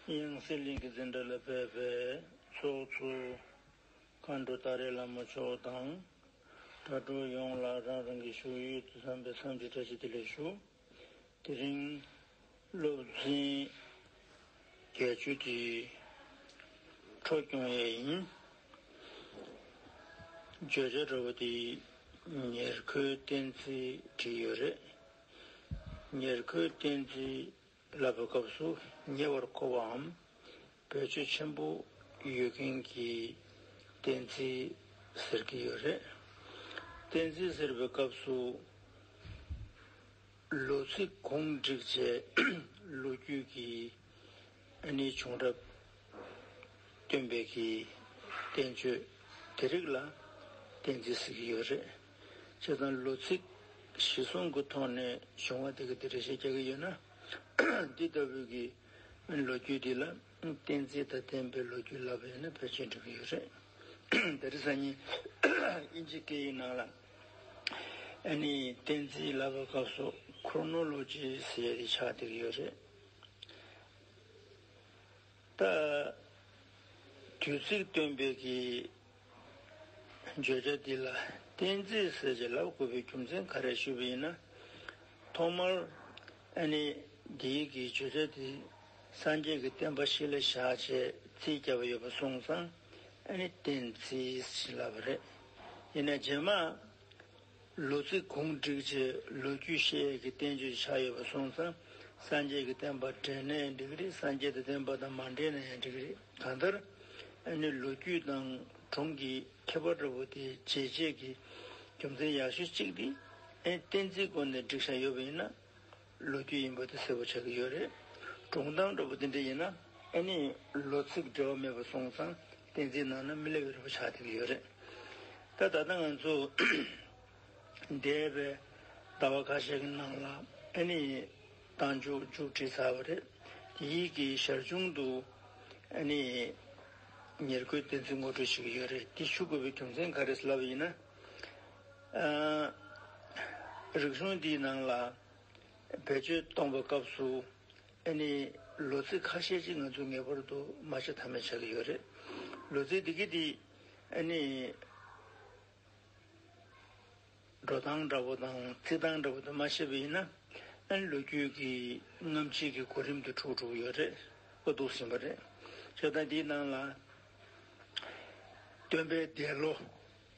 དབྱངས་གསལ་གླིང་གི་འཛིན་གྲྭ་ལ་ཕེབས་པའི་ཚོགས་ཚུལ། མཁའ་འགྲོ་ཏཱ་རེ་བླ་མ་མཆོག་དང། དྲ་གྲོགས་ཡོངས་ལ་རང་རང་གི་བཞུགས་ཡུལ་དུ་བསམ་པའི་བསམ་གྱིས་བཀྲ་ཤིས་བདེ་ལེགས་ཞུ། དེ་རིང། སློབ་འཛིན་བརྒྱད་ཅུ་དེ་འཕྲོ་སྐྱོང་ཡས་ཡིན། བརྗོད་བྱ་དྲ་བ་དེ་ཉེར་མཁོའི་གཏན་ཚིགས་བྲིས་ཡོད་རེད། ཉེར་མཁོའི་གཏན་ཚིགས་བསླབ་པའི་སྐབས་སུ་ཉེ་བར་མཁོ་བའམ་བེད་སྤྱོད་ཆེན་པོ་ཡོད་མཁན་གྱི་གཏན་ཚིགས་ཟེར་གྱི་ཡོད་རེད། གཏན་ཚིགས་ཟེར་བའི་སྐབས་སུ། ལོ་ཚིགས་གུང་བསྒྲིགས་བྱས་ལོ་རྒྱུས་ཀྱི་གནས་བྱུང་རབས་སྟོན་པའི་གི་གཏན་བཅོས་དེ་རིགས་ལ་གཏན་ཚིགས་ཟེར་གྱི་ཡོད་རེད། བྱེད་དང་ལོ་ཚིགས་བཞི་གསུམ་གྱི་ཐོག་ནས་བྱུང་བ་དེ་ག་དེ་རེ་བཤད་རྒྱག་གི་ཡོད་ན། འདི་ལྟ་བུའི་གི་ལོ་རྒྱུས་འདི་ལ་གཏན་ཚིགས་དང་ལྡན་པའི་ལོ་རྒྱུས་ལབ་པ་ཡོད་ན་ཕལ་ཆེར་འགྲིག་གི་ཡོད་རེད། ད་རེས་སང་ཉིན་དབྱིན་ཇི་སྐད་ཡིག་ནང་ལ་ཨ་ནི་གཏན་ཚིགས་ལབ་པའི་སྐབས་སུ Chronology ཟེར་ཡ་དེ་ཆགས་བསྡད་གི་ཡོད་རེད། ད། དུས་ཚིགས་སྟོན་པའི་གི་བརྗོད་བྱ་འདི་ལ་གཏན་ཚིགས་གསལ་བྱེད་ལབ་དགོས་པའི་རྒྱུ་མཚན་ག་རེ་ཞུས་པ་ཡིན་ན། ཐོག་མར་ཨ་ནེ་དེ་ཡིག་གིས་བརྗོད་བྱ་འདི་སངས་རྒྱས་ཀྱི་བསྟན་པ་ཞིག་ལ་བཞག་ཅེས་ཚིག་བརྒྱབ་པ་ཡོད་པ་སོང་ཙང་ཨ་ནེ་གཏན་ཚིགས་ལབ་པ་རེད། ཡིན་ན་རྗེས་མ་ལོ་ཚིགས་གུང་བསྒྲིགས་བྱས་ལོ་རྒྱུས་ཤེས་ཡས་ཀྱི་བསྟན་བཅོས་ཆགས་ཡོད་པ་གསུངས་ཙང་སངས་རྒྱས་ཀྱི་བསྟན་པ་འབྲེལ་ནས་འགྲིག་གི་རེད་སངས་རྒྱས་དང་བསྟན་པ་དང་མ་འབྲེལ་ནའང་འགྲིག་གི་རེད་གང་ལྟར་ཨ་ནི་ལོ་རྒྱུས་དང་གྲོང་གི་མཁས་པ་འདྲ་བོ་དེ་བྱས་རྗེས་ཀྱི་རྒྱུ་མཚན་ཡག་ཤོས་གཅིག་དེ་ཨེ་བསྟན་རྩིས་སྐོར་ནས་བསྒྲིགས་བཞག་ཡོད་པ་ཡིན་ན། ལོ་རྒྱུས་ཡིན་པ་དེ་གསལ་པོ་ཆགས་ཀྱི་ཡོད་རེད། གྲོང་སྟངས་འདྲ་པོ་འདི་འདྲ་ཡིན་ན་ཨེ་ནི་ལོ་ཚིགས་འབྲེལ་བ་མེད་པར་སོང་ཙང་གཏན་ཚིགས་ནང་ན་མི་སླེབས་རེ་བ་ཆགས་བསྡད་ཀྱི་ཡོད་རེད། ད་ད་ལྟ་ང་ཚོ་འདས་པའི་ཟླ་བ་ཁ་ཤས་ཀྱི་ནང་ལ་ཨེ་ནི་གཏང་འཇུག་མཇུག་བསྒྲིལ་ཚར་བ་རེད། དེ་ཡིད་ཀྱི་ཞར་བྱུང་དུ་ཨེ་ནི་ཉེར་མཁོའི་གཏན་ཚིགས་ངོ་སྤྲོད་བྱེད་ཀྱི་ཡོད་རེད། དེ་ཞུ་དགོས་པའི་རྒྱུ་མཚན་ག་རེ་ལབ་ཡིན་ན། རིག་གཞུང་འདིའི་ནང་ལ་བེད་སྤྱོད་གཏོང་བའི་སྐབས་སུ་ཨེ་ནི་ལོ་ཚིགས་ཁ་ཤས་ཅིག་ང་ཚོས་ངེས་པར་དུ་མ་བྱས་ཐབས་མེད་ཆགས་ཀྱི་ཡོད་རེད། ལོ་ཚིགས་འདི་གི་དེ་ཨེ་ནི། འགྲོ་སྟངས་འདྲ་བོ་དང་བརྩི་སྟངས་འདྲ་བོ་དེ་མ་ཤེས་པ་ཡིན་ན་ཨེ་ནི་ལོ་རྒྱུས་ཀྱི་རྔམ་བྱེད་ཀྱི་གོ་རིམ་དེ་འཁྲུགས་འགྲོ་གི་ཡོད་རེད་ཨོ་འདུག་ཟིན་པ་རེད། ཞེ་སྡང་འདིའི་ནང་ལ་སྟོན་པའི་འདས་ལོ་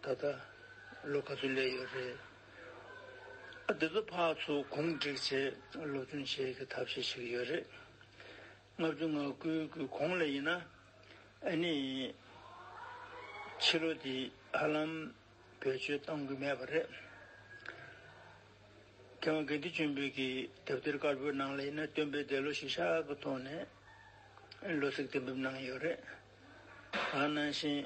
ད་ལྟ་ལོ་ག་ཚོད་སླེབས་ཡོད་རེད། ཨ་དེ་ཚོ་ཕག་ཚོ་གུང་བསྒྲིགས་ཆེད་སློབ་སྦྱོང་བྱེད་ཀྱི་ཐབས་ཤེས་བྱེད་ཀྱི་ཡོད་རེད། ལྔ་བཅུ་ང་དགུའི་དགུན་གོང་ལ་ཡིན་ན་ཨེ་ནི། ཕྱི་ལོ་འདི་ཧ་ལམ་བེད་སྤྱོད་གཏོང་གི་མེད་པ་རེད། མཁས་དབང་དགེ་འདུན་ཆེན་པོས་ཀྱི་དེབ་ཐེར་དཀར་པོའི་ནང་ལ་ཡིན་ན་སྟོན་པའི་འདས་ལོ་ཞིག་ཤག་གི་ཐོག་ནས་ལོ་ཚིགས་གཏན་འབེབས་གནང་ཡོད་རེད། ནང་བཞིན་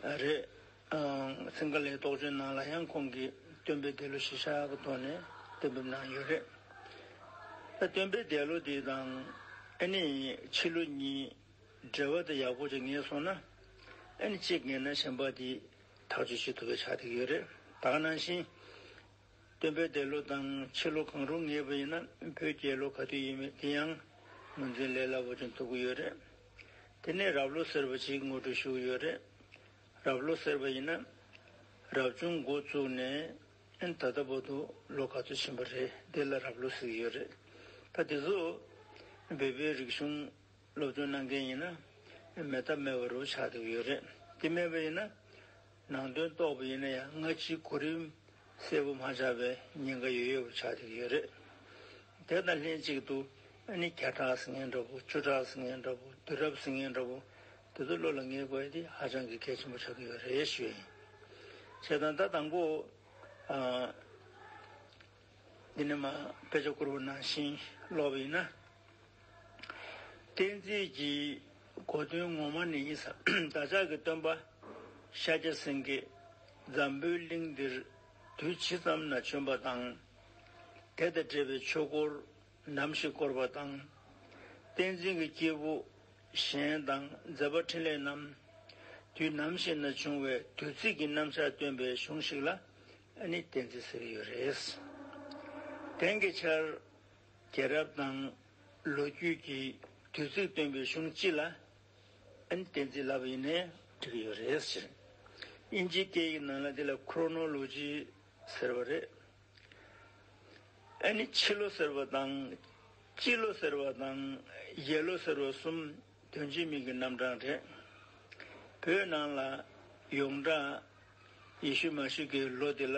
རེད། སིང་ག་ལའི་རྟོགས་བརྗོད་ནང་ལ་ཡང་ཁོང་གིས་སྟོན་པའི་འདས་ལོ་གཞི་བཞག་གི་ཐོག་ནས་གཏན་འབེབས་གནང་ཡོད་རེད། སྟོན་པའི་འདས་ལོ་དེ་དང་ཨེ་ནི་ཕྱི་ལོ་གཉིས་འབྲེལ་བ་དེ་ཡག་པོ་ཅིག་ངེས་སོང་ན། ཨེ་ནི་གཅིག་ངེས་ན་གཞན་པ་དེས་ཐག་གཅོད་བྱེད་ཐུབ་པའི་ཆ་དེ་ཡོད་རེད། དག་ནང་བཞིན་སྟོན་པའི་འདས་ལོ་དང་ཕྱི་ལོ་གང་རུང་ངེས་པ་ཡིན་ན་བོད་རྒྱལ་ལོ་ག་དུས་ཡིན་མིན་དེ་ཡང་ངོས་འཛིན་ལས་སླ་པོ་ཅན་ཐུབ་ཀྱི་ཡོད་རེད། དེ་ནས་རབས་ལོ་ཟེར་བ་ཞིག་ངོ་སྤྲོད་ཞུ་གི་ཡོད་རེད། རབས་ལོ་ཟེར་བ་ཡིན་ན། རབ་བྱུང་མགོ་བཙུགས་ནས་ད་ལྟ་བར་དུ་ལོ་ག་ཚོད་ཕྱིན་པ་རེད་དེ་ལ་རབས་ལོ་ཟེར་གྱི་ཡོད་རེད། ད་དེ་ཚོ་བོད་པའི་རིག་གཞུང། སློབ་སྟོན་གནང་མཁན་ཡིན་ན་མེད་ཐབས་མེད་པ་རུ་ཆགས་འདུག་ཡོད་རེད་དེ་མེད་པ་ཡིན་ན་ནང་དོན་རྟོགས་པ་ཡིན་ན་ཡང་སྔ་ཕྱིའི་གོ་རིམ་གསལ་པོ་མ་ཆགས་པའི་ཉེན་ཁ་ཡོད་ཡོད་པ་ཆགས་འདུག་ཡོད་རེད། དེ་དང་ལྷན་ཅིག་ཏུ་ཨ་ནི་བརྒྱ་ཕྲག་ཟིང་ངེ་འདྲ་པོ་བཅུ་ཕྲག་ཟིང་ངེ་འདྲ་པོ་བདུན་རབས་ཟིང་ངེ་འདྲ་པོ་དེ་ཚོ་བློ་ལ་ངེས་དགོས་དེ་ཧ་ཅང་གི་གལ་ཆེན་པོ་ཆགས་ཀྱི་ཡོད་རེད་ཞུ་ཡིན། བྱས་དང་ད་དང་པོ། འདི་ནི་མ་དཔེ་ཆ་བསྐུར་བ་ནང་བཞིན་ཀློག་པ་ཡིན་ན། གཏན་ཚིགས་ཀྱི་གོ་དོན་ངོ་མ་ནི་ཡིན། བདག་ཅག་གི་སྟོན་པ་ཤཱཀྱ་སེང་གེས་འཛམ་བུའི་གླིང་འདིར་དུས་ཇི་ཙམ་ན་བྱོན་པ་དང། དེ་དང་འབྲེལ་བའི་ཆོས་སྐོར་ནམ་ཞིག་བསྐོར་བ་དང། བསྟན་འཛིན་གྱི་སྐྱེས་བུ་གཞན་དང་མཛད་པ་འཕྲིན་ལས་རྣམས་དུས་ནམ་ཞིག་ན་བྱུང་བའི་དུས་ཚིགས་ཀྱི་རྣམ་བཞག་སྟོན་པའི་གཞུང་ཞིག་ལ་ཨ་ནི་བསྟན་འཛིན་ཟེར་གྱི་ཡོད་རེད། དེང་གི་ཆར་རྒྱལ་རབས་དང་ལོ་རྒྱུས་ཀྱི་དུས་ཚིགས་སྟོན་པའི་གཞུང་སྤྱི་ལ་ཨ་ནི་བསྟན་འཛིན་ལབ་ཡིན་ནའི་འགྲིག་གི་ཡོད་རེད་ཟེར། དབྱིན་ཇིའི་སྐད་ཡིག་ནང་ལ་དེ་ལ Chronology ཟེར་བ་རེད། ཨ་ནི་ཕྱི་ལོ་ཟེར་བ་དང་སྤྱི་ལོ་ཟེར་བ་དང་ཡེ་ལོ་ཟེར་བ་གསུམ་དོན་གྱི་མིང་གི་རྣམ་གྲངས་རེད། བོད་ནང་ལ་ཡོངས་གྲགས་ཡེ་ཤུ་མཱ་ཤི་ཀའི་ལོ་དེ་ལ་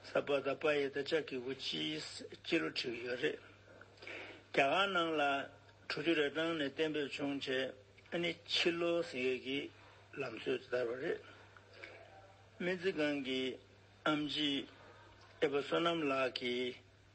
སཱ་པཱ་དཱ་པཱ་ཡེ་ད་ཅཱ་ཀི་བུ་ཅིས་སྤྱི་ལོ་ཁྲི་ཡོད་རེད། རྒྱ་གར་ནང་ལ་དྲུག་ཅུ་རེ་གྲངས་ནས་གཏན་འབེབས་བྱུང་རྗེས་ནི་ཕྱི་ལོ་ཟིང་ཡོད་ཀྱི་ལམ་སྲོལ་དེ་དར་བ་རེད། སྨན་རྩིས་ཁང་གི་ཨམ་ཅི་ཨེ་བ་བསོད་ནམས་ལགས་ཀྱིས་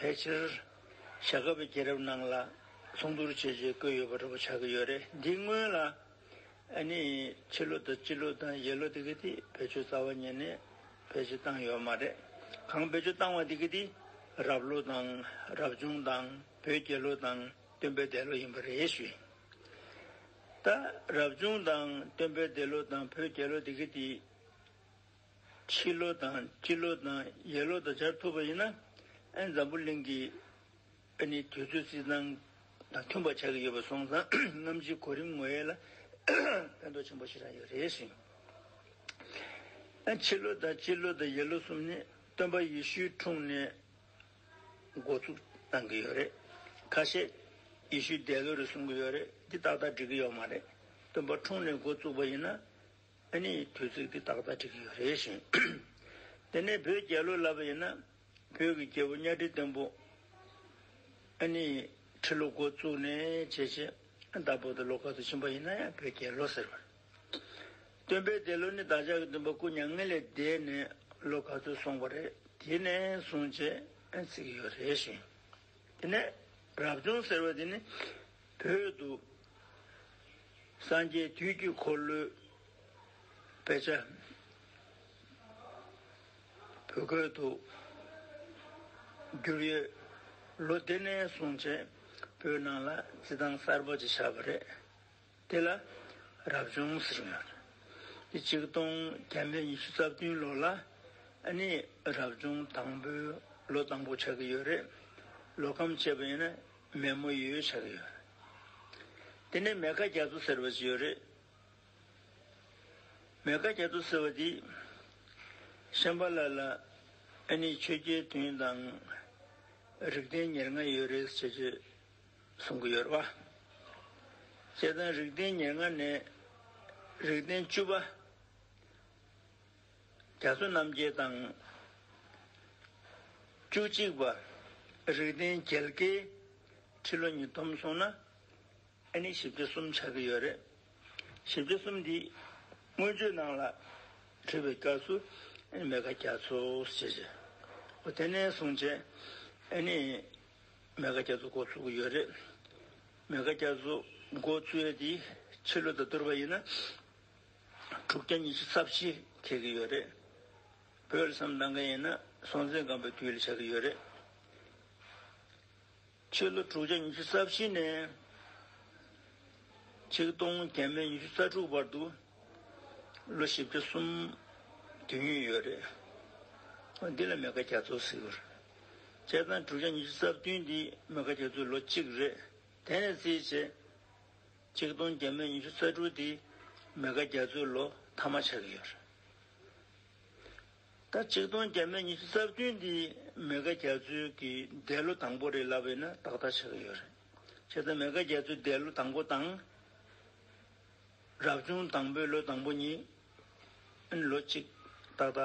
ཕལ་ཆེར་བྱ་དགའ་བའི་རྒྱལ་རབས་ནང་ལ་ཚོང་དུར་བྱེད་ཅེས་བཀོད་ཡོད་པ་འདྲ་པོ་ཆགས་ཀྱི་ཡོད་རེད་འདིའི་སྔོན་ལ་ཨ་ནི་ཕྱི་ལོ་དང་སྤྱི་ལོ་དང་ཡེ་ལོ་དེ་གི་དེ་བེད་སྤྱོད་རྩ་བ་ཉིད་ནས་བེད་སྤྱོད་བཏང་ཡོད་མ་རེད་གང་བེད་སྤྱོད་བཏང་བ་དེ་གི་དེ་རབས་ལོ་དང་རབས་བྱུང་དང་བོད་རྒྱལ་ལོ་དང་སྟོན་པའི་འདས་ལོ་ཡིན་པ་རེད་ཞུ་ཡིན་ད་རབས་བྱུང་དང་སྟོན་པའི་འདས་ལོ་དང་བོད་རྒྱལ་ལོ་དེ་གི་དེ། ཕྱི་ལོ་དང་སྤྱི་ལོ་དང་ཡས་ལོ་དང་སྦྱར་ཐུབ་པ་ཡིན་ན། ཨན་འཛམ་བུ་གླིང་གི་ཨ་ནི་དུས་ཚོད་རྩིས་ཐང་དང་མཐུན་པ་ཆགས་ཀྱི་ཡོད་པ་སོང་ཙང་རྔམ་བརྗིད་གོ་རིམ་ངོ་ཡལ་ལ་ཕན་ཐོགས་ཆེན་པོ་ཞིག་རག་ཡོད་རེད་ཟེར། ཨན་ཕྱི་ལོ་དང་སྤྱི་ལོ་དང་ཡས་ལོ་གསུམ་ནི་སྟོན་པ་ཡེ་ཤུའི་འཁྲུངས་ནས་འགོ་ཚུགས་གནང་གི་ཡོད་རེད། ཁ་ཤས་ཡེ་ཤུའི་འདས་ལོ་རེད་གསུང་གི་ཡོད་རེད་འདི་ཏག་ཏག་འགྲིག་གི་ཡོད་མ་རེད། སྟོན་པ་འཁྲུངས་ནས་འགོ་བཙུགས་པ་ཡིན་ན། ཨ་ནི་དུས་ཚོད་ཀྱི་ཏག་ཏག་འགྲིག་གི་ཡོད་རེད་བཞིན། དེ་ནས་བོད་རྒྱལ་ལོ་ལབ་པ་ཡིན་ན། བོད་ཀྱི་རྒྱལ་པོ་གཉའ་ཁྲི་བརྟན་པོ། ཨ་ནི་ཁྲི་ལོ་འགོ་བཙུགས་ནས་ཇེ་ཆེ། བདག་བོད་དུ་ལོ་ཁ་ཏུ་ཕྱིན་པ་ཡིན་ན་ཡང་བོད་རྒྱལ་ལོ་ཟེར་བ་རེད། སྟོན་པའི་འདས་ལོ་ནི་བདག་ཅག་གི་སྟོན་པ་སྐུ་མྱ་ངན་ལས་འདས་ནས་ལོ་ག་ཚོད་སོང་བ་རེད་དེ་ནས་བཟུང་ཇེ་ཚིག་གི་ཡོད་རེད་བཞིན། དེ་ནས་རབ་བྱུང་ཟེར་བ་དེ་ནི་བོད་དུ་སངས་རྒྱས་དུས་ཀྱི་འཁོར་ལོའི་དཔེ་ཆ། བོད་ཁུལ་དུ་བསྒྱུར་ཡོད། ལོ་དེ་ནས་བཟུང་བྱེས་བོད་ནང་ལ་རྩིས་ཐང་གསར་པ་ཅིག་ཆགས་པ་རེད། དེ་ལ་རབ་བྱུང་ཟེར་ཡོད། དེ་གཅིག་སྟོང་རྒྱ་མི་ཉི་ཤུ་རྩ་བདུན་ལོ་ལ་ནི་རབ་བྱུང་དང་པོའི་ལོ་དང་པོ་ཆགས་ཀྱི་ཡོད་རེད། ལོ་ཁམས་བྱེད་པ་ཡིན་ན་མེ་མོ་ཡོད་ཆགས་ཡོད་རེད། དེ་ནས་མེ་ཁ་རྒྱ་མཚོ་ཟེར་བ་ཞིག་ཡོད་རེད། མེ་ཁ་རྒྱ་མཚོ་ཟེར་བ་འདི། ཤམ་པ་ལ་ལ་ཨ་ནི་ཆོས་རྒྱལ་དུན་དང། རིགས་ལྡན་ཉེར་ལྔ་ཡོད་རེད་ཅེས་བརྗོད་གསུང་གི་ཡོད་རེད་བ། བཅས་དང་རིགས་ལྡན་ཉེར་ལྔ་ནས་རིགས་ལྡན་བཅུ་པ། རྒྱ་མཚོ་རྣམ་རྒྱལ་དང། བཅུ་གཅིག་པ། རིགས་ལྡན་རྒྱལ་ཁའི་ཁྲི་ལོ་ཉིས་སྟོང་སོང་ན། ཨ་ནི་ཞིབ་ཆ་གསུམ་ཆགས་ཀྱི་ཡོད་རེད། ཞིབ་ཆ་གསུམ་འདི། སྔོན་བརྗོད་གནང་ལ། བྲིས་པའི་སྐབས་སུ། ཨ་ནི་མེ་ཁ་རྒྱ་མཚོ་ཞེས་བྱ། འོ་དེ་ནས་བཟུང་བྱས། ཨ་ནི། མེ་ཁ་རྒྱ་མཚོ་འགོ་ཚུགས་ཀྱི་ཡོད་རེད། མེ་ཁ་རྒྱ་མཚོ་འགོ་བཙུད་ཡས་དེའི་ཕྱི་ལོ་དང་བསྡུར་བ་ཡིན་ན། དྲུག་བརྒྱ་ཉི་ཤུ་རྩ་བཞི་ཁེལ་གྱི་ཡོད་རེད། བོད་ལ་སམ་གདང་མཁན་ཡིན་ན་སྲོང་བཙན་སྒམ་པོའི་དུས་ལ་ཆགས་ཀྱི་ཡོད་རེད། ཕྱི་ལོ་དྲུག་བརྒྱ་ཉི་ཤུ་རྩ་བཞི་ནས་ཆིག་སྟོང་བརྒྱད་མེད་ཉི་ཤུ་རྩ་དྲུག་བར་དུ་ལོ་བཞི་བརྒྱ་གསུམ་དུས་ཡུན་ཡོད་རེད། འདི་ལ་མེ་ཁ་རྒྱ་མཚོ་ཟེར། བྱས་ཙང་དྲུག་བརྒྱ་ཉི་ཤུ་རྩ་བདུན་འདི་མེ་ཁ་རྒྱ་མཚོའི་ལོ་གཅིག་རེད། དེ་ནས་བརྩིས་བྱས་གཅིག་སྟོང་བརྒྱ་སྨོས་ཉི་ཤུ་རྩ་དྲུག་སྟེ། མི་ཁ་བརྒྱ་ཚུལ་ལོ་ཐ་མ་ཆགས་ཀྱི་ཡོད། ད་གཅིག་སྟོང་བརྒྱ་སྨོས་ཉི་ཤུ་རྩ་བདུན་འདི་མི་ཁ་བརྒྱ་ཚུལ་གྱི་འདས་ལོ་དང་པོ་རེད་ལབ་ཡོད་ན་ཏག་ཏག་ཆགས་ཀྱི་ཡོད་རེད། ཁྱེད་ཚོ་མི་ཁ་བརྒྱ་ཚུལ་འདས་ལོ་དང་པོ་དང། རབ་བྱུང་དང་པོའི་ལོ་དང་པོ་གཉིས། ལོ་གཅིག་ཏག་ཏག་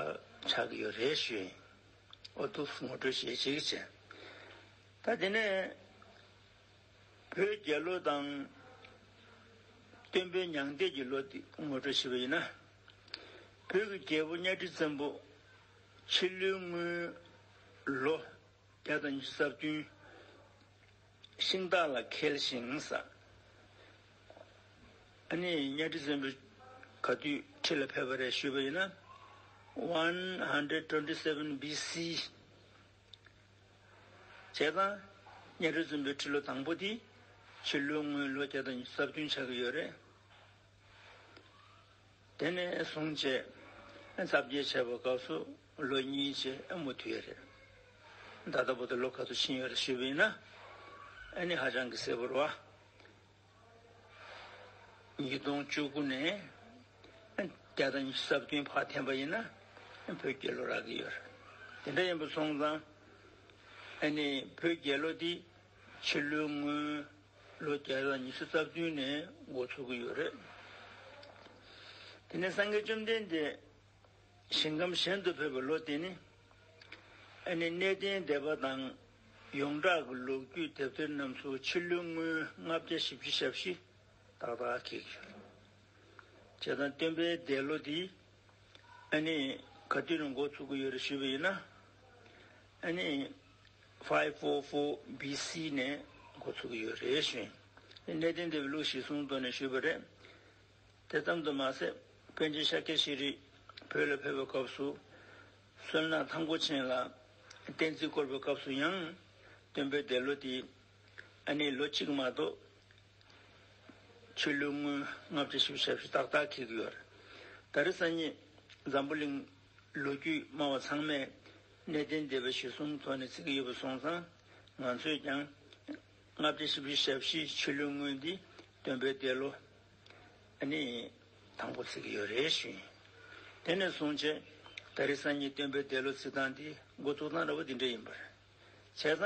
ཆགས་ཀྱི་ཡོད་རེད་ཞུས། ཨོ་ཏུབས་ངོ་སྤྲོད་བྱེད་ཅིག་བྱས། ད་དེ་ནས། བོད་རྒྱལ་ལོ་དང། སྟོན་པའི་མྱང་འདས་ཀྱི་ལོ་དེ་ངོ་སྤྲོད་བྱས་པ་ཡིན་ན། བོད་ཀྱི་རྒྱལ་པོ་གཉའ་ཁྲི་བཙན་པོ་ཕྱི་ལོའི་དངུལ་ལོ་བརྒྱ་དང་ཉི་ཤུ་རྩ་བདུན། ཤིང་སྟག་ལ་ཁེལ་ཞིང། ཨ་ནི་གཉའ་ཁྲི་བཙན་པོས་ག་དུས་ཁྲི་ལ་ཕེབས་པ་རེད་ཞུས་པ་ཡིན་ན། One Hundred Twenty Seven BC། བྱས་ཙང། གཉའ་ཁྲི་རྫུན་པོའི་ཁྲི་ལོ་དང་པོ་དེ། ཕྱི་ལོའི་སྔོན་ལོ་བརྒྱ་དང་གསར་བདུན་ཆགས་ཀྱི་ཡོད་རེད། དེ་ནས་བཟུང་བྱས། རྩ་བརྒྱད་བྱས་པ་སྐབས་སུ་ལོ་གཉིས་བྱས་ཨེ་མོ་དུས་ཡོད་རེད། ད་ལྟ་བུ་དེ་ལོ་ག་ཚོད་ཕྱིན་ཡོད་རེད་ཞུས་པ་ཡིན་ན། ཨེ་ནི་ཧ་ཅང་གི་གསལ་བོར་བ། ཉིས་སྟོང་བཅུ་དགུ་ནས་བརྒྱ་དང་གསར་བདུན་བར་འཐེན་པ་ཡིན་ན་བོད་རྒྱལ་ལོ་རག་གི་ཡོད་རེད། དེ་འདྲ་ཡིན་པ་སོང་ཙང་ཨ་ནི་བོད་རྒྱལ་ལོ་འདི་ཕྱི་ལོའི་སྔོན་ལོ་བརྒྱ་དང་ཉི་ཤུ་རྩ་བདུན་ནས་འགོ་ཚུགས་ཀྱི་ཡོད་རེད། དེ་ནས་སངས་རྒྱས་བཅོམ་ལྡན་འདས་ཞིང་ཁམས་གཞན་དུ་ཕེབས་པའི་ལོ་དེ་ནི་ཨ་ནི་གནས་བརྟན་སྡེ་པ་དང། ཡོངས་གྲགས་ཀྱི་ལོ་རྒྱུས་དེབ་ཐེར་རྣམས་སུ་ཕྱི་ལོའི་སྔོན་ལྔ་བརྒྱ་བཞི་བཅུ་ཞབས་ཕྱི་ཏག་ཏག་གི་བྱེད་སྟངས་སྟོན་པས་འདས་ལོ་འདི་ཨ་ནི་ག་དུས་ནས་འགོ་ཚུགས་ཀྱི་ཡོད་རེད་ཞུས་པ་ཡིན་ན། ཨ་ནི five four four BC ནས་འགོ་ཚུགས་ཀྱི་ཡོད་རེད་ཞུས། གནད་དོན་འདི་བའི་ལུགས་ཞིག་གསུངས་དོན་ནས་ཞུས་པ་རེད། དེ་ཙམ་དུ་མ་ཟད་པཎ་ཆེན་ཤཱཀྱ་ཤྲཱི་རིགས་བོད་ལ་ཕེབས་པའི་སྐབས་སུ་བསོད་ནམས་ཐང་སྒོ་ཆེན་ལ། བསྟན་རྩིས་སྐོར་པའི་སྐབས་སུ་ཡང། སྟོན་པའི་འདས་ལོ་དེ། ཨ་ནེའི་ལོ་གཅིག་མ་གཏོགས། ཆོས་ལུགས་སྔོན་ལྔ་བཅུ་བཞི་བཅུ་ཞབས་ཞུ་ཏག་ཏག་འཁེལ་གྱི་ཡོད། ད་རེས་ས་གཉིས། འཛམ་བུ་གླིང། ལོ་རྒྱུས་སྨྲ་བ་ཚང་མས། གནས་བརྟན་སྡེ་བའི་གཞི་གསུམ་ཐོག་ནས་བརྩི་གི་ཡོད་པ་སོང་ཙང། ང་ཚོས་ཀྱང། ལྔ་བརྒྱ་བཞི་བཅུ་ཞབས་བཞི་ཕྱི་ལོའི་དངུལ་འདི་སྟོན་པའི་འདས་ལོ། ནི། དང་པོ་ཚིག་གི་ཡོད་རེ་ཞུས། དེ་ནས་བཟུང་བྱས། ད་རེས་སང་ཉིན་སྟོན་པའི་འདས་ལོ་ཚིག་ཐང་འདི་མགོ་བཙུགས་སྟངས་ར་བ་འདི་འདྲ་ཡིན་པར། བྱས་ཙང།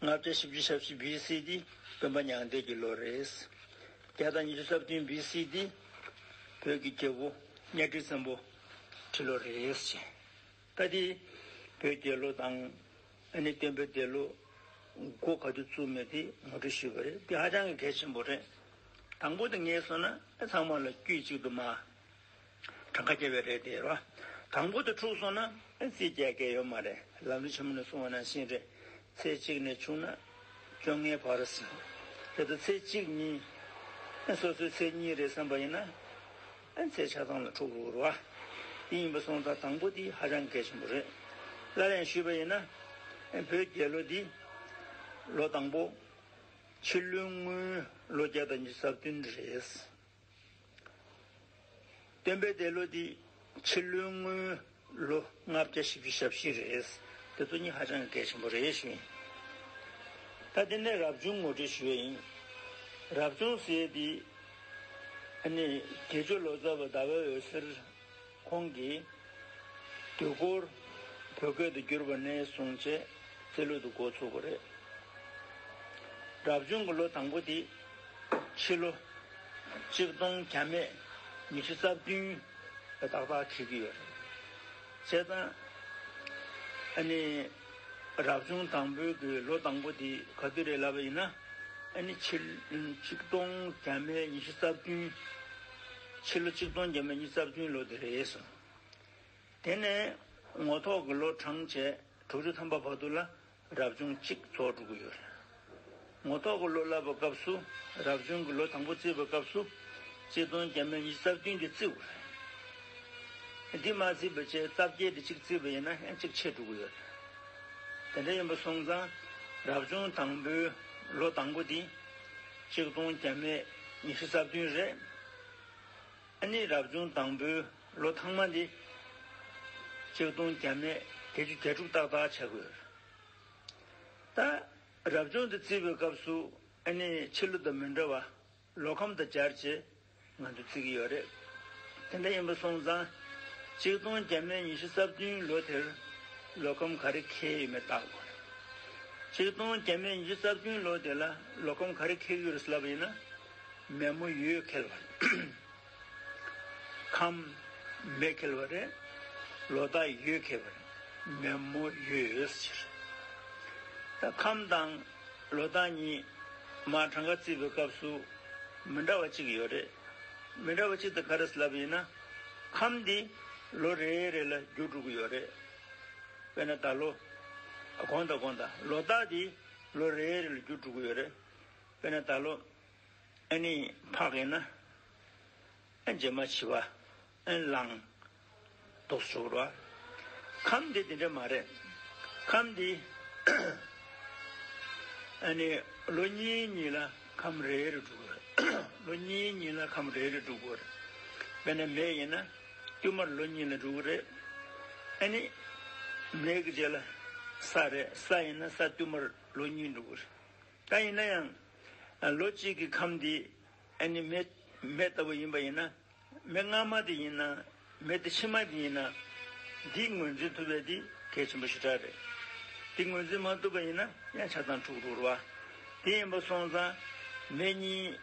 ལྔ་བརྒྱ་བཞི་བཅུ་ཞབས་བཞི BC འདི་སྟོན་པ་མྱང་འདས་ཀྱི་ལོ་རེད། བརྒྱ་དང་ཉི་ཤུ་རྩ་བདུན BC འདི། བོད་ཀྱི་རྒྱལ་པོ་གཉའ་ཁྲི་བཙན་པོ་ཁྲི་ལོ་རེད། ལྟ་དེ། བོད་རྒྱལ་ལོ་དང། ཨ་ནི་སྟོན་པའི་འདས་ལོ། མགོ་ག་དུས་བཙུགས་མེད་དེ་ངོ་སྤྲོད་ཞུས་པ་རེད་འདི་ཧ་ཅང་གི་གལ་ཆེན་པོ་རེད། དང་པོ་དེ་ངས་སོང་ན་ཨ་ཚང་མ་ལ་དཀྱུས་གཅིག་དུ་མ། གྲངས་ཀ་བསྐྱལ་བའི་རེད་དེ་རེད་བ། དང་པོ་དེ་འཁྲུགས་སོང་ན་ཨ་རྩིས་རྒྱལ་སྐད་ཡོད་མ་རེད་ལམ་རི་ཆེན་མོ་ནས་སོང་བ་ནང་བཞིན་རེད། ཚེས་གཅིག་ནས་བཅུ་ན་བཅོ་ལྔའི་བར་ཟིན། དེ་ལྟར་ཚེས་གཅིག་གཉིས། སོ་སོའི་ཚེས་གཉིས་རེད་བསམ་པ་ཡིན་ན། ཚེས་ཆ་ཚང་ལ་ཕྲུག་གུ་བོར་བ། འདི་ཡིན་པ་སོང་ཙང་དང་པོ་འདི་ཧ་ཅང་གལ་ཆེན་པོ་རེད། སླར་ཡང་ཞུས་པ་ཡིན་ན། བོད་རྒྱལ་ལོ་འདི། ལོ་དང་པོ། ཕྱི་ལོའི་དངུལ་ལོ་བརྒྱ་དང་བཅུ་རྩ་བདུན་རེད། སྟོན་པའི་འདས་ལོ་འདི་ཕྱི་ལོའི་དངུལ་ལོ་ལྔ་བརྒྱ་བཞི་བཅུ་ཞབས་བཞི་རེད། དེ་ཚོ་གཉིས་ཧ་ཅང་གི་གལ་ཆེན་པོ་རེད་ཞུ་ཡིན། ད་དེ་ནས་རབ་བྱུང་ངོ་སྤྲོད་ཞུ་ཡ་ཡིན། རབ་བྱུང་ཟེར་དེ། ཨ་ནི་དགེ་ཆོས་ལོ་ཙཱ་བ་ཟླ་བའི་འོད་ཟེར། ཁོང་གིས། དུས་འཁོར། བོད་སྐད་དུ་བསྒྱུར་བ་ནས་བཟུང་བྱས་རྩིས་ལུས་དུ་འགོ་ཚུགས་པ་རེད། རབ་བྱུང་གི་ལོ་དང་པོ་དེ། ཕྱི་ལོ། གཅིག་སྟོང་གྱ་མེད་ཉི་ཤུ་རྩ་བདུན། ལ་ཏག་ཏག་ཁེལ་གྱི་ཡོད་རེད། བྱས་ཙང། ཨ་ནི། རབ་བྱུང་དང་པོའི་གི་ལོ་དང་པོ་དེ་ག་དུས་རེད་ལབ་པ་ཡིན་ན། ཨ་ནི་ཕྱི། གཅིག་སྟོང་གྱ་མེད་ཉི་ཤུ་རྩ་བདུན། ཕྱི་ལོ་གཅིག་སྟོང་བརྒྱད་མ་གཉིས་རྩ་བདུན་ལོ་དེ་རེད་གསུངས། དེ་ནས་ངོ་ཐོག་གི་ལོ་གྲངས་བཅས་དྲུག་ཅུ་ཐམ་པ་བར་དུ་ལ་རབ་བྱུང་གཅིག་ཚོགས་དྲུག་གི་ཡོད་རེད། ངོ་ཐོག་གི་ལོ་བསླབ་པ་སྐབས་སུ་རབ་བྱུང་གི་ལོ་དང་པོ་བརྩིས་པ་སྐབས་སུ་གཅིག་སྟོང་བརྒྱད་མ་གཉིས་རྩ་བདུན་དེ་བརྩི་དགོས་རེད། འདི་མ་བརྩིས་པ་བཅས་རྩ་བརྒྱད་དེ་གཅིག་བརྩིས་པ་ཡིན་ན་ཨེ་ཅིག་ཕྱེད་དྲུག་གི་ཡོད་རེད། དེ་འདྲ་ཡིན་པ་སོང་ཙང་རབ་བྱུང་དང་པོའི་ལོ་དང་པོ་དེ་ཆིག་སྟོང་བརྒྱ་མེད་ཉི་ཤུ་རྩ་བདུན་རེད། ཨ་ནི་རབ་བྱུང་དང་པོའི་ལོ་ཐང་མ་འདི། ཆིག་སྟོང་བརྒྱ་མེད་བརྒྱད་ཅུ་གྱ་དྲུག་ཏག་ཏག་བྱ་དགོས། ད་རབ་བྱུང་འདི་བརྩི་བའི་སྐབས་སུ་ཨ་ནི་ཕྱི་ལོ་དང་མི་འདྲ་བ་ལོ་ཁམས་དང་སྦྱར་བྱེད། ང་ཚོ་བརྩི་གི་ཡོད་རེད། དེ་འདྲ་ཡིན་པ་སོང་ཙང། གཅིག་སྟོང་བརྒྱད་མེད་ཉི་ཤུ་རྩ་བདུན་ལོ་དེར་ལོ་ཁམས་ག་རེ་ཁེལ་ཡོད་མེད་བརྟག་དགོས་རེད། གཅིག་སྟོང་བརྒྱད་མེད་ཉི་ཤུ་རྩ་བདུན་ལོ་དེ་ལ་ལོ་ཁམས་ག་རེ་ཁེལ་གི་ཡོད་རེད་ཟེར་ལབ་པ་ཡིན་ན། མེད་མོ་ཡོད་ཁེལ་བ་རེད། ཁམས། མེད་ཁེལ་བ་རེད། ལོ་ད་ཡོད་ཁེལ་བ་རེད། མེད་མོ་ཡོད་ཟེར། ད་ཁམས་དང། ལོ་གདངས་གཉིས། མ་གྲངས་ཀ་བརྩིས་པའི་སྐབས་སུ། མི་འདྲ་བ་གཅིག་ཡོད་རེད། མི་འདྲ་བ་གཅིག་དེ་ག་རེས་ལབ་ཡིན་ན། ཁམས་འདི། ལོ་རེ་རེ་ལ་རྒྱུ་དྲུག་ཡོད་རེད། དཔེར་ན་ད་ལོ། གོང་ད་གོང་ད། ལོ་རྟགས་འདི། ལོ་རེ་རེ་ལ་རྒྱུ་དྲུག་ཡོད་རེད། དཔེར་ན་ད་ལོ། ཨ་ནི། འཕགས་ཡིན་ན། རྗེས་མ་བྱི་བ། ཨེ་བླང། དུག་སྦྱོར་བ། ཁམས་འདི་དེ་འདྲ་མ་རེད། ཁམས་འདི། ཨ་ནི། ལོ་གཉིས་གཉིས་ལ་ཁམས་རེ་རེ་འགྲོ་དགོས། ལོ་གཉིས་གཉིས་ལ་ཁམས་རེ་རེ་འགྲོ་དགོས། དཔེར་ན་མེ་ཡིན་ན། བསྟུད་མར་ལོ་གཉིས་ལ་འགྲོ་གི་རེད། ཨ་ནི། མེ་གི་རྗེས་ལ། ས་རེད། ས་ཡིན་ན་ས་བསྟུད་མར་ལོ་གཉིས་འགྲོ་གི་རེད། ད་ཡིན་ན་ཡང། ལོ་གཅིག་གི་ཁམས་འདི། ཨ་ནི། མེ་ལྟ་བུ་ཡིན་པ་ཡིན་ན། མི་སྔ་མ་དེ་ཡིན་ན་མི་དེ་ཕྱི་མ་དེ་ཡིན་ན། འདིས་ངོས་འཛིན་ཐུབ་པས་དེ་གལ་ཆེན་པོ་ཞེ་དྲག་རེད། དེ་ངོས་འཛིན་མ་ཐུབ་པ་ཡིན་ན་ཡང་ཆ་ཚང་འཁྲུག་འགྲོ་བ་དེ་ཡིན་པ་སོང་ཙང། མི་གཉིས་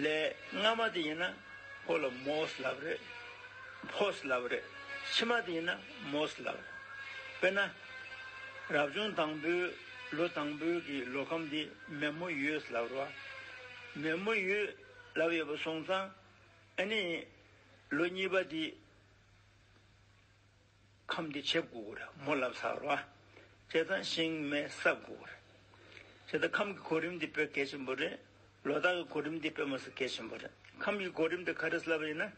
ལས་སྔ་མ་དེ་ཡིན་ན་ཁོ་ལ་མོས་ལབ་རེད། Post Love། རེད། ཕྱི་མ་དེ་ཡིན་ན Most Love རེད། དཔེར་ན། རབ་བྱུང་དང་པོའི་ལོ་དང་པོའི་གི་ལོ་ཁམས་དེ་མེ་མོ་ཡོས་ལབ་རོ། མེ་མོ་ཡོས་ལབ་ཡོད་པ་སོང་ཙང། ཨ་ནི། ལོ་གཉིས་པ་འདི། ཁམས་འདི་བྱེད་དགོས་ཀྱི་རེད་མོ་ལབ་ས་ར་བ། བྱེད་ཚང་ཞིང་སྨན་བསགས་དགོས་ཀྱི་རེད། བྱེད་ད་ཁམས་ཀྱི་གོ་རིམ་འདི་སྤེལ་གལ་ཆེན་པོ་རེད། ལོ་དག་གི་གོ་རིམ་འདི་སྤེལ་མ་ཟིག་གལ་ཆེན་པོ་རེད། ཁམས་ཀྱི་གོ་རིམ་འདི་ག་རེ་སླ་བ་ཡིན་ན།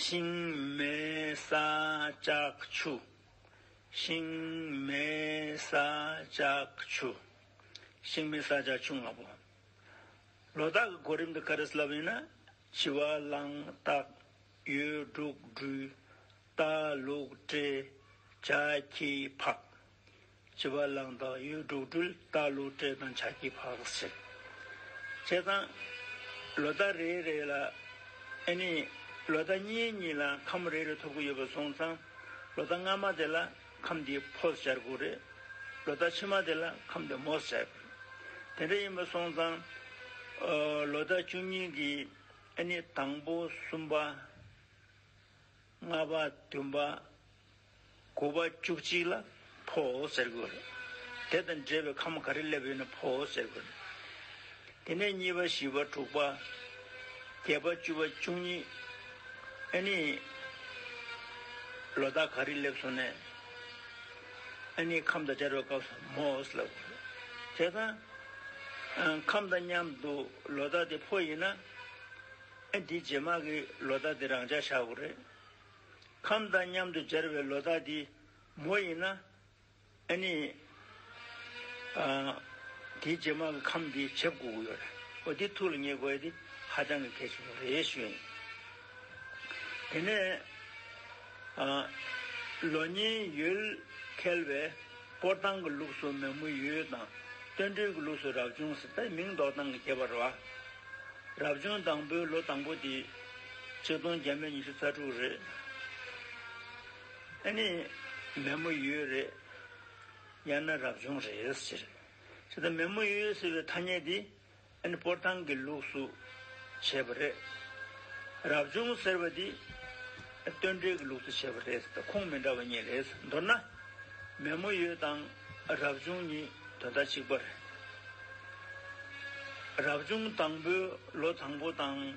ཞིང་སྨན་བསགས་ལྕགས་ཆུ། ཞིང་སྨན་བསགས་ལྕགས་ཆུ། ཞིང་སྨན་བསགས་ལྕགས་ཆུ་ལྔ་པོ། ལོ་རྟགས་ཀྱི་གོ་རིམ་དུ་ཀ་རི་སི་ལབ་ཡིན་ན། བྱི་བ། གླང། སྟག། ཡོས། འབྲུག། སྦྲུལ། རྟ། ལུག། སྤྲེལ། བྱ། ཁྱི། ཕག། བྱི་བ། གླང། སྟག། ཡོས། འབྲུག། སྦྲུལ། རྟ། ལུག། སྤྲེལ་དང་བྱ། ཁྱི། ཕག། ཟེར། བྱས་ཙང། ལོ་རྟགས་རེ་རེ་ལ། ཨེ་ནི། ལོ་རྟགས་གཉིས་གཉིས་ལ་ཁམས་རེ་རེ་ཐོབ་ཀྱི་ཡོད་པར་སོང་ཙང། ལོ་རྟགས་སྔ་མ་དེ་ལ་ཁམས་འདི་ཕོ་སྲས་དགུ་རེད། ལོ་ཟླ་ཕྱི་མ་དེ་ལ་ཁམས་འདི་མོ་སྲས་དགུ་རེད། དེ་འདྲ་ཡིན་པ་སོང་ཙང། ལོ་ཟླ་བཅུ་གཉིས་ཀྱི་ཨ་ནི་དང་པོ་གསུམ་པ། ལྔ་པ་བདུན་པ། དགུ་པ་བཅུ་གཅིག་ལ་ཕོ་སྲས་དགུ་རེད། དེ་དང་འབྲེལ་བའི་ཁམས་ག་རེ་སླེབས་ཡོད་ན་ཕོ་སྲས་དགུ་རེད། དེ་ནས་གཉིས་པ་བཞི་པ་དྲུག་པ་བརྒྱད་པ་བཅུ་པ་བཅུ་གཉིས། ཨཱ་ནི། ལོ་ཟླ་ག་རེ་སླེབས་སོང་ནས། ཨཱ་ནི་ཁམས་དང་སྦྱར་བའི་སྐབས་སུ་མོའོ་སི་ལ། དེ་དང། ཁམས་དང་མཉམ་དུ་ལོ་ཟླ་དེ་ཕོ་ཡིན་ན། ཨཱ་འདི་རྗེས་མ་གི་ལོ་ཟླ་དེ་རང་འཇགས་བཞག་གོ་རེད། ཁམས་དང་མཉམ་དུ་སྦྱར་བའི་ལོ་ཟླ་འདི་མོ་ཡིན་ན། ཨེ་ནི། དེའི་རྗེས་མ་གི་ཁམས་དེའི་ཕྱེད་དགུ་དགུ་ཡོད་རེད། ཨོ་དེའི་ཐུགས་ལ་ངེས་དགོས་དེ་ཧ་ཅང་གི་གལ་ཆེན་པོ་རེད་ཞུས་ཡིན། དེ་ནས། ལོ་ཉེའི་ཡུལ་ཁེལ་བས་སྐོར་ཐང་གི་ལུགས་སུ་མེ་མོ་ཡུལ་དང། སྟོན་སྦྲུལ་གྱི་ལུགས་སུ་རབ་བྱུང་སྲིད་རྟའི་མིང་འདོགས་སྟངས་ཀྱི་ཁྱད་པར་རོ། རབ་བྱུང་དང་པོའི་ལོ་དང་པོ་དེ། ཆིག་སྟོང་བརྒྱད་མེད་ཉི་ཤུ་རྩ་དྲུག་རེད། ཨ་ནི། མེ་མོ་ཡོས་རེད། ཡང་ན་རབ་བྱུང་རེད། ཅེས་དང་མེ་མོ་ཡོས་ཟེར་བའི་ཐ་སྙད་འདི་ཨ་ནི་སྤོར་ཐང་གི་ལུགས་སུ་བྱས་པ་རེད། རབ་བྱུང་ཟེར་བ་འདི་སྟོན་འབྲས་ཀྱི་ལུགས་སུ་བྱས་པ་རེད། ཁུངས་མི་འདྲ་བ་གཉིས་རེད། མདོར་ན། མེ་མོ་ཡོས་དང་རབ་བྱུང་གཉིས་དོན་དག་གཅིག་པ་རེད། རབ་བྱུང་དང་པོའི་ལོ་དང་པོ་དང།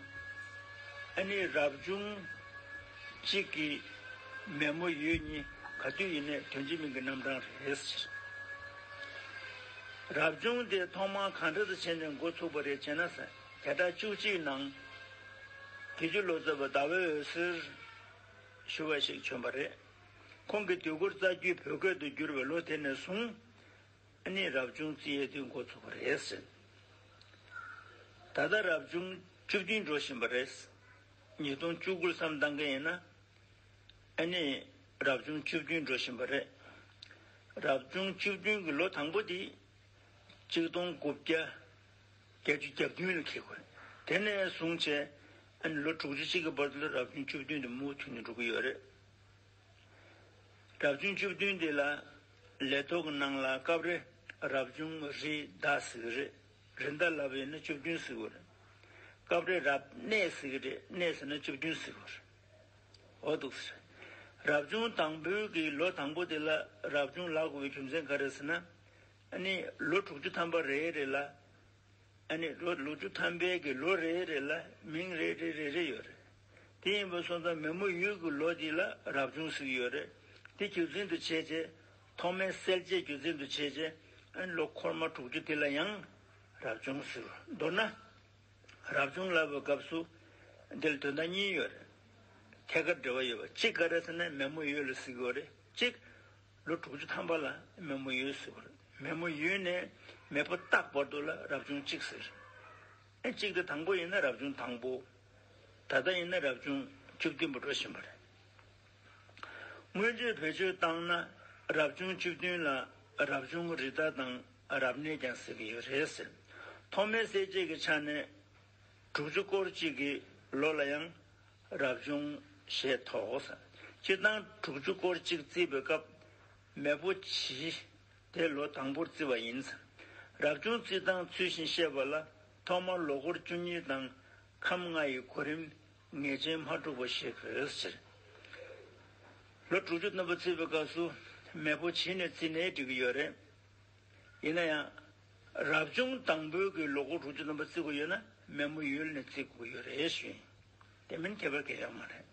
ཨ་ནི་རབ་བྱུང། གཅིག་གིས། མེ་མོ་ཡོས་གཉིས་ག་དུས་ཡིན་ནས་དོན་གྱི་མིང་གི་རྣམ་གྲངས་རེད། རབ་བྱུང་དེ་ཐོག་མ་གང་འདྲ་དུ་བྱས་ནས་འགོ་ཚུགས་པ་རེད་ཅེ་ན། བྱེ་བྲག་བཅུ་གཅིག་ནང། དེ་རྒྱུ་ལོ་ཙཱ་བ་ཟླ་བའི་འོད་ཟེར། ཞུ་བ་ཞིག་བྱོན་པ་རེད། ཁོང་གིས་དུས་འཁོར་རྩ་རྒྱུད་བོད་སྐད་དུ་བསྒྱུར་བའི་ལོ་དེ་ནས་བཟུང། ནི་རབ་བྱུང་རྩིས་ཡས་དུས་འགོ་ཚུགས་པ་རེད། ད་ལྟ་རབ་བྱུང་བཅུ་བདུན་འགྲོ་བཞིན་པ་རེད། ཉིས་སྟོང་བཅུ་དགུ་བསམ་བཏང་གི་ཡིན། ཨ་ནི་རབ་བྱུང་བཅུ་བདུན་འགྲོ་བཞིན་པ་རེད། རབ་བྱུང་བཅུ་བདུན་གྱི་ལོ་དང་པོ་དེ་གཅིག་སྟོང་དགུ་བརྒྱ་བརྒྱད་ཅུ་གྱ་བདུན་ལ་ཁེལ་དགོས། དེ་ནས་བཟུང་བྱས་ཨ་ནི་ལོ་དྲུག་ཅུ་གཅིག་གི་བར་དུ་རབ་བྱུང་བཅུ་བདུན་དེ་མུ་མཐུད་ནས་འགྲོ་གི་ཡོད་རེད། རབ་བྱུང་བཅུ་བདུན་དེ་ལ་ལས་ཐོག་གི་ནང་ལ་སྐབས་རེ་རབ་བྱུང་རི་དྭགས་ཟེར་གི་རེད། རི་འདབས་ལ་བས་ནི་བཅུ་བདུན་གཟིགས་འོད་རེད། སྐབས་རེ་རབ་གནས་གཟིགས་རེད་གནས་ཟེར་ན་བཅུ་བདུན་གཟིགས་འོད་རེད། འོ་འདུག་ཟེར། རབ་བྱུང་དང་པོའི་གི་ལོ་དང་པོ་དེ་ལ་རབ་བྱུང་ལག་དགུ་བའི་རྒྱུ་མཚན་ག་རེད་ཟེར་ན། ནི་ལོ་དྲུག་ཅུ་ཐམ་པ་རེ་རེ་ལ། ནི་ལོ་ལོ་བཅུ་ཐམ་པའི་གི་ལོ་རེ་རེ་ལ་མིང་རེ་རེ་རེ་རེ་ཡོད་རེད། དེ་ཡིན་པ་སོང་ཙང་མེ་མོ་ཡུལ་གི་ལོ་དེ་ལ་རབ་བྱུང་གཟིགས་ཡོད་རེད་དེ་རྒྱུ་མཚན་དུ་བྱས་རྗེས། ཐོག་མའི་གསལ་བྱེད་རྒྱུ་མཚན་དུ་བྱས། རྗེས་ལུས་འཁོར་མ་དྲུག་ཅུ་དེ་ལ་ཡང། རབ་བྱུང་ཟུར། མདོར་ན། རབ་བྱུང་ལ་བའི་སྐབས་སུ། འདིར་དོན་དང་གཉིས་ཡོད་རེད། ཐད་ཀར་འབྲེལ་བ་ཡོད་པ་གཅིག་ག་རེ་ཟེར་ན་མེ་མོ་ཡོས་ལ་གཟིགས་ཡོད་རེད་གཅིག། ལོ་དྲུག་ཅུ་ཐམ་པ་ལ་མེ་མོ་ཡོས་གཟིགས་པ་རེད་མེ་མོ་ཡོས་ནས་མེས་པོ་བཏགས་བར་དུ་ལ་རབ་བྱུང་གཅིག་ཟེར། གཅིག་དེ་དང་པོ་ཡིན་ན་རབ་བྱུང་དང་པོ། ད་ལྟ་ཡིན་ན་རབ་བྱུང་བཅུ་བདུན་པ་འགྲོ་བཞིན་པ་རེད། སྔོན་བརྗོད་བེད་སྤྱོད་བཏང་ན་རབ་བྱུང་བཅུ་བདུན་ལ་རབ་བྱུང་རི་རྟ་དང་རབ་གནས་ཀྱང་ཟེར་གྱི་ཡོད་རེད་ཟེར། ཐོག་མའི་གསལ་བྱེད་ཀྱི་ཆ་ནས་དྲུག་ཅུ་སྐོར་གཅིག་གི་ལོ་ལ་ཡང་རབ་བྱུང་ཞེས་ཐོགས། སྤྱིར་བཏང་དྲུག་ཅུ་སྐོར་གཅིག་བརྩི་བའི་སྐབས་མེ་ཕོ་བྱི་དེ་ལོ་དང་པོར་བརྩི་བ་ཡིན། རབ་བྱུང་བརྩི་སྟངས་ཚུལ་བཞིན་བཤད་པ་ལ་ཐོག་མར་ལོ་སྐོར་བཅུ་གཉིས་དང་ཁམས་ལྔ་ཡི་གོ་རིམ་ངེས་ཅན་མ་དཀྲུགས་པ་ཞེས་བོས་ཟེར། ལོ་དྲུག་ཅུ་རྣམ་པ་བརྩིས་པའི་སྐབས་སུ་མེས་པོ་བྱིས་ནས་བརྩིས་ནས་འགྲིག་གི་ཡོད་རེད། ཡིན་ན་ཡང། རབ་བྱུང་དང་པོའི་གི་ལོ་གོ་དྲུག་ཅུ་རྣམ་པ་བརྩི་དགོས་ཡོད་ན་མེས་མོ་ཡུལ་ནས་བརྩི་དགོས་ཡོད་རེད་ཞུས། དེ་མིན་ཁྱད་པར་གལ་ཆགས་མ་རེད།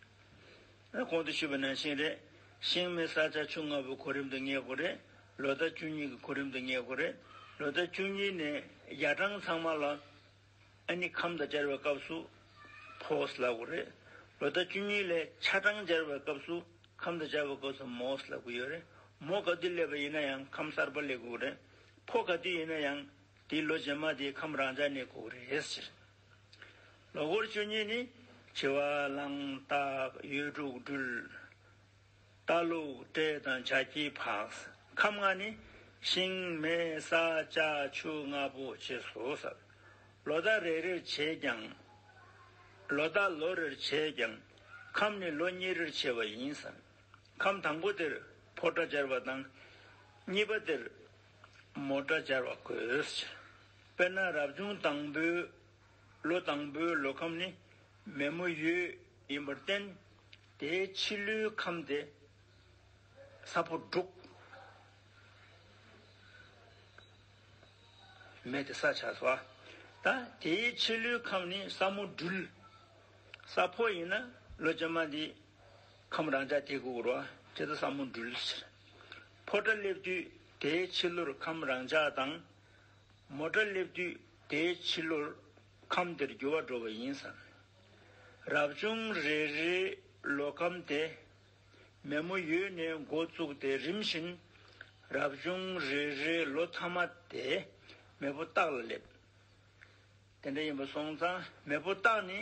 ཨ་གོང་དུ་ཞུས་པ་ནང་བཞིན་རེད། ཤིང་མེ་ས་ཆ་ཆུང་ལྔ་པོའི་གོ་རིམ་དུ་ངེས་དགོས་རེད། ལོ་ཟླ་བཅུ་གཉིས་ཀྱི་གོ་རིམ་དུ་ངེས་དགོས་རེད། ལོ་ཟླ་བཅུ་གཉིས་ནས་ཡ་གྲངས་ཚང་མ་ལ་ཨ་ནི་ཁམས་དང་སྦྱར་བའི་སྐབས་སུ། ཕོས་ལ་གུ་རེད། ལོ་ཟླ་བཅུ་གཉིས་ལས་ཆ་གྲངས་སྦྱར་བའི་སྐབས་སུ། ཁམས་དང་སྦྱར་བའི་སྐབས་སུ་མོས་ལ་གུ་ཡོད་རེད། མོ་ག་དུས་སླེབས་པ་ཡིན་ན་ཡང་ཁམས་གསར་པ་ལས་གུ་རེད། ཕོ་ག་དུས་ཡིན་ན་ཡང་དེའི་ལོ་རྗེས་མ་དེའི་ཁམས་རང་འཇགས་ནས་གུ་རེད་ཟེར། ལོ་འཁོར་བཅུ་གཉིས་ནི། བྱི་བ། གླང་སྟག། ཡོས་འབྲུག་སྦྲུལ། རྟ་ལུག་སྤྲེལ་དང་བྱ་ཁྱིའི་ཕག། ཁམས་ལྔ་ནི། ཤིང་མེ་ས་ལྕགས་ཆུ་ལྔ་པོ་བྱེད་གཟུགས་ཟབ། ལོ་ཟླ་རེ་རེར་བྱེད་ཀྱང། ལོ་ཟླ་ལོ་རེར་བྱེད་ཀྱང། ཁམས་ནི་ལོ་གཉིས་རེར་བྱེད་པ་ཡིན། ཁམས་དང་པོ་དེར་ཕོ་སྐྲ་སྦྱར་བ་དང། གཉིས་པ་དེར་མོ་སྐྲ་སྦྱར་བ་དགོས། དཔེར་ན་རབ་བྱུང་དང་པོའི། ལོ་དང་པོའི་ལོ་ཁམས་ནི། མེ་མོ་ཡོས་ཡིན་པར་བརྟེན། དེའི་ཕྱི་ཀླུའི་ཁམས་དེ་ས་ཕོ་འབྲུག། མེ་དེ་ས་ཆ་སོ། ད་དེའི་ཕྱི་ཀླུའི་ཁམས་ནི་ས་མོ་སྦྲུལ། ས་ཕོ་ཡིན་ན་ལོ་བྱེ་མ་འདི་ཁམས་རང་འདྲ་དེ་གུག་རོ་ཇི་ལྟ་ས་མོ་སྦྲུལ་ཕྱིར། ཕོ་སྐྲ་སླེབས་དུས་དེའི་ཕྱི་ཀླུར་ཁམས་རང་འཇགས་དང། མོ་སྐྲ་སླེབས་དུས་དེའི་ཕྱི་ཀླུར་ཁམས་དེར་རྒྱུ་བ་འགྲོ་བ་ཡིན་བསམ། རབ་བྱུང་རེ་རེའི་ལོ་ཁམས་དེ། མེ་མོ་ཡོས་ནས་མགོ་བཙུགས་ཏེ་རིམ་བཞིན། རབ་བྱུང་རེ་རེའི་ལོ་མཐའ་མ་དེ། མེ་ཕོ་སྟག་ལ་སླེབས། དེ་འདྲ་ཡིན་པ་སོང་ཙང་མེ་ཕོ་སྟག་ནི་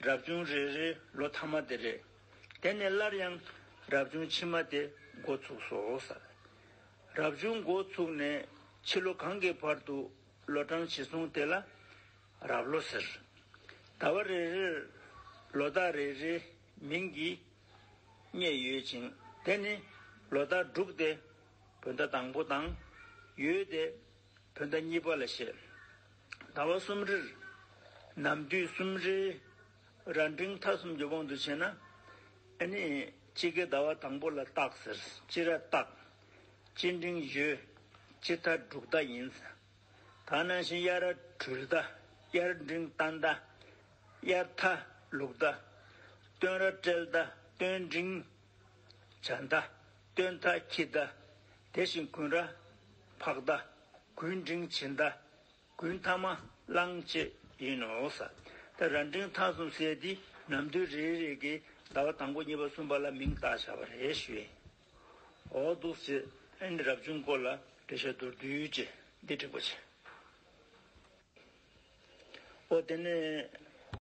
རབ་བྱུང་རེ་རེའི་ལོ་མཐའ་མ་དེ་རེད། དེ་ནས་སླར་ཡང་རབ་བྱུང་ཕྱི་མ་དེ་མགོ་བཙུགས་སོ་བསམ། རབ་བྱུང་མགོ་བཙུགས་ནས་ཕྱི་ལོ་གང་གི་བར་དུ་ལོ་གྲངས་ཕྱི་སོང་དེ་ལ་རབས་ལོ་ཟེར། ཟླ་བ་རེ་རེར་ལོ་ཟླ་རེ་རེའི་མིང་གིས་བསྙད་ཡོད་ཅིང་དེ་ནི་ལོ་ཟླ་དྲུག་སྟེ་བོད་ཟླ་དང་པོ་དང། ཡོལ་སྟེ་བོད་ཟླ་གཉིས་པ་ལ་བཤད། ཟླ་བ་གསུམ་རེར་ནམ་དུས་གསུམ་རེའི། ར་འབྲིང་མཐའ་གསུམ་རྒྱུ་སྤང་དུ་བྱེད་ན། ཨེ་ནི། དཔྱིད་ཀའི་ཟླ་བ་དང་པོ་ལ་སྟག་ཟེར། དཔྱིད་ར་སྟག། དཔྱིད་འབྲིང་བཞི། དཔྱིད་ཐ་འབྲུག་ཟླ་ཡིན། ད་ནང་བཞིན་དབྱར་ར་གྲུལ་ཟླ། དབྱར་འབྲིང་རྟ་ཟླ། དབྱར་ཐ་ལུག་ཟླ། སྟོན་ར་སྤྲེལ་ཟླ། སྟོན་འབྲིང། བྱ་ཟླ། སྟོན་ཐ་ཁྱི་ཟླ། དེ་བཞིན་གུན་ར། ཕག་ཟླ། གུན་འབྲིང་བྱི་ཟླ། དགུན་ཐ་མ་གླང་བཅས་ཡིན་ནོ། ས་ཏེ་ར་འབྲིང་མཐའ་གསུམ་བསལ་ཏེ་ནམ་དུས་རེ་རེ་གའི་ཟླ་བ་དང་པོ་གཉིས་པ་གསུམ་པ་ལ་མིང་བཏགས་བྱ་བ་རེ་ཞུ་ཡིན། འོ་འདུག་ཅེས་ཨན་རབ་བྱུང་སྐོར་ལ་འགྲེལ་བཤད་མདོར་བསྡུས་ཀྱི་འདི་འགྲིག་པོ་བྱེད། འོ་དེ་ནས།